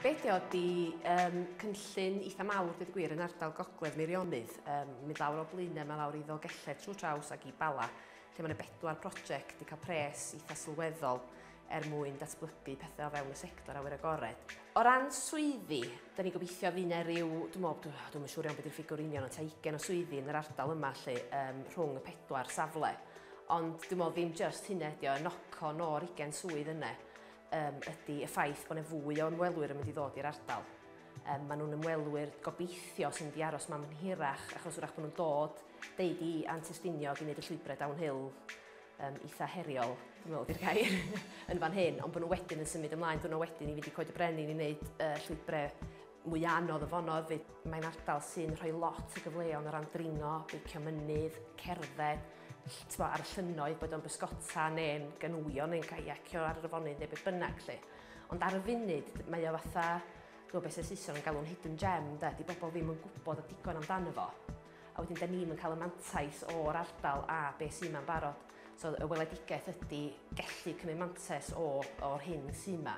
Be ydi o? Ydi um, cynllun eitha mawr, dweud y gwir, yn ardal gogledd Meirionydd. Um, mynd lawr o Blaenau, mae lawr i Ddogelled trwy draws ac i Bala, lle mae yna bedwar prosiect wedi cael pres eitha sylweddol er mwyn datblygu pethau o fewn y sector awyr agored. O ran swyddi, da ni gobeithio fydd yna rhyw, dwi'n meddwl, dwi'n meddwl siŵr iawn beth yw'r ffigwr union, o ta 20 o swyddi yn yr ardal yma lle, um, rhwng y pedwar safle. Ond dwi'n meddwl ddim jyst hynna ydi o, y knock-on o'r ugen swydd yna um, ydy y ffaith bod yna fwy o ymwelwyr yn mynd i ddod i'r ardal. Um, maen nhw'n ymwelwyr gobeithio sy'n mynd i aros ma'n hirach achos wrach bod nhw'n dod deud i antusdiniog i wneud y llwybrau downhill um, eitha heriol, dwi'n meddwl di'r gair, yn fan hyn, ond bod nhw wedyn yn symud ymlaen, dwi'n nhw wedyn i fynd i coed y brenin i wneud uh, llwybrau Mwya' anodd y fonodd fyd. Mae'n ardal sy'n rhoi lot o gyfleon o ran dringo, beicio mynydd, cerdded, t'bo' ar y llynnoedd, boed o'n bysgota neu'n ganŵio neu'n caiacio ar yr afonydd neu beth bynnag 'lly. Ond ar y funud, mae o fatha, ch'mo' be' se Saeson yn galw'n hidden gem 'de, 'di bobl ddim yn gwybod y digon amdano fo. a wedyn da ni'm yn cael y mantais o'r ardal a be sy'n ma'n barod. So y weledigaeth ydy gellu cymryd mantes o, o'r hyn sy'n ma,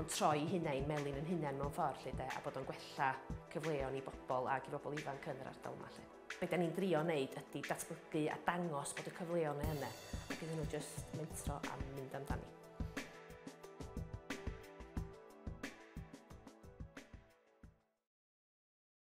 ond troi hunain melin yn hunain mewn ffordd lle de, a bod o'n gwella cyfleon i bobl ac i bobl ifanc yn yr ardal yma lle. Be da ni'n drio wneud ydy datblygu a dangos bod y cyfleon yn yna, ac iddyn nhw jyst mentro a mynd amdani.